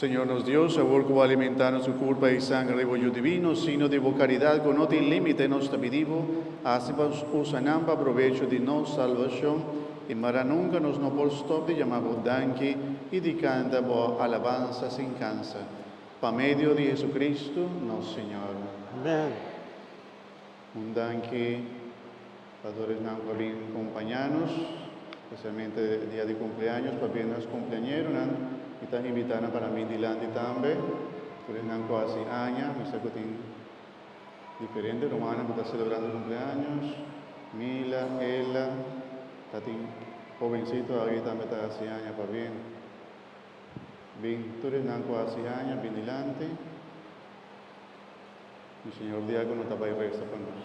Señor nos Dios, awor cu bo a alimentá nos cu curpa i sangre riba bo Yu Divino, signo di bo caridad cu no tin límite, nos ta pidí bo, haci pa nos usa nan pa probecho di nos salbacion, i mara nunca nos no por stop di yamá bo danki i di canta bo alabansa sin cansa. Pa medio di Jesucristo, nos Señor. Amen. Un danki. Padoresnan por bin kompañá nos, spesialmente dia di kumpleaños, pabia nos kumpleañeronan mi ta invitá nan para mi dilanti tambe. Tur esnan ku a hasi aña, mi sa ku tin diferente rumannan ku ta selebrá su kumpleaños. Mila, Ella, ta tin hobensito aki ku tambe ta hasi aña pabia. Bin tur esnan ku a hasi aña, bin dilanti. Mi Señor di aki no ta bai resta pa nos.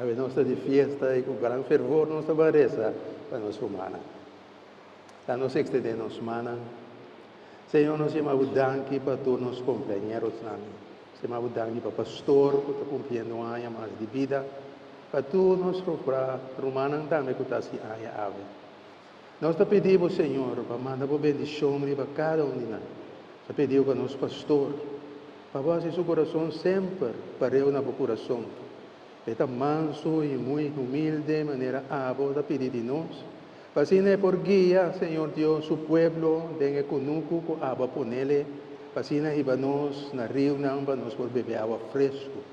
Awe nos ta di fiesta i ku gran fervor nos ta ban resa pa nos humannan. La nos ekstendé nos mannan. Señor, nos yama Bo danki pa tur nos kompañerosnan. Nos yama Bo danki pa pastor ku ta kumpliendo un aña mas di bida, pa tur nos rumannan tambe ku ta hasi aña awe. Nos ta pidi bo, Señor, pa manda bo bendishon riba kada un di nan. Ta pidiu pa nos pastor pa bo hasi su kurason semper pareu na bo kurason. E ta mansu i muy humilde manera abo ta pidi di nos, pa asina e por guia, Señor Dios, su pueblo den e kunuku ku abo a ponel e, pa asina hiba nos na riunan pa nos por bebe awa fresku.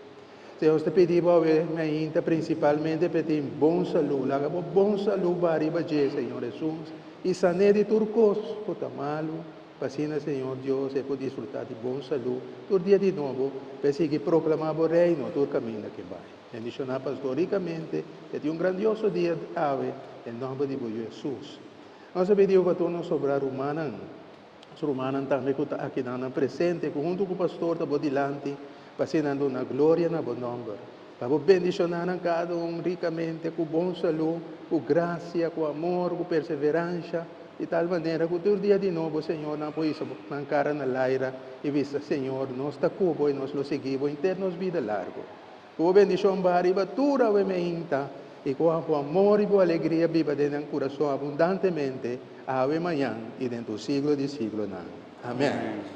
Señor ta pidi bo awe na hinta principalmente p'e tin bon salú. Laga bo bon salú ba riba dje, Señor Hesus, i san'é di tur kos ku ta malu, p'asina Señor Dios e ku disfrutá di bon salú tur dia di nobo p'e sigui proklamá bo Reino tur kaminda ke bai. Bendishoná pastor rikamente p'e tin un grandioso dia awe den nomber di bo Yu Hesus. Nos ta pidi bo pa tur nos sobrá rumannan. Nos rumannan tambe ku ta akinan nan presente ku huntu ku pastor ta bo dilanti pa asina nan duna gloria na bo nòmber. Pa bo bendishoná nan kada un rikamente ku bon salú, ku grasia, ku amor, ku perseveransha, di tal manera ku tur dia di nobo Señor nan por hisa bo nan kara na laira i bisa, Señor, nos ta ku bo i nos lo sigui bo henter nos bida largu. Ku bo bendishon baha riba tur awe meinta, i ku bo amor i bo alegria biba den nan kurason abundantemente, awe, mañan, i den tur siglo di siglonan. Amèn.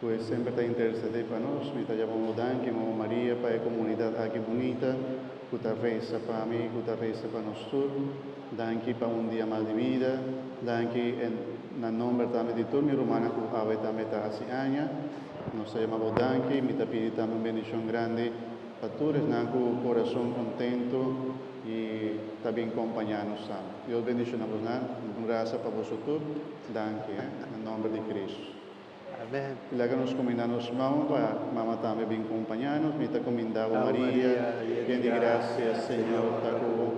Cu e semper ta intercedé pa nos. Mi ta yama bo danki, Mama Maria, pa e comunidad aki bunita cu ta reza pa mi y cu ta reza pa nos tur. Danki pa un dia mas di vida. Danki en na nomber tambe di tur mi rumannan cu awe tambe ta haci aña. Nos ta yama bo danki. Mi ta pidi tambe un bendicion grandi pa tur esnan cu corazon contento y ta bin compaña nos tambe. Dios bendiciona bosnan. Gracia pa boso tur. Danki, he, na nomber di Cristo. Amen. Di laka nos kuminda nos mou pa Mama tambe bin kompañá nos. Mi ta kuminda bo Maria, yen di grasia, Señor ta ku bo.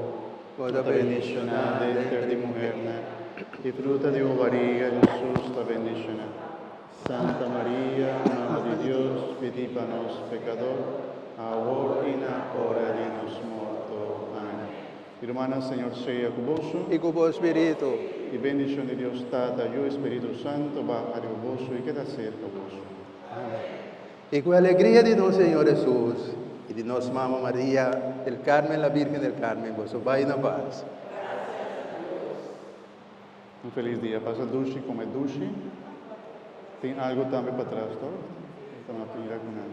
Bo ta bendishoná denter di muhernan, i fruta di bo bariga, Hesus, ta bendishoná. Santa Maria, Mama di Dios, pidi pa nos pekadó, awor i na ora di nos morto. Amen. Y Rumana Señor sea cu boso. Y cu bo espiritu. Y bendicion di Dios Tata, Yu, Espiritu Santo baha riba boso y keda cerca boso. Amen. Y cu e alegria di nos Señor Jesus y di nos Mama Maria del Carmen la Virgen del Carmen boso bay na paz. Un feliz dia. Pasa dushi, come dushi. Tin algo tambe patras, to? Ta mira cu nan.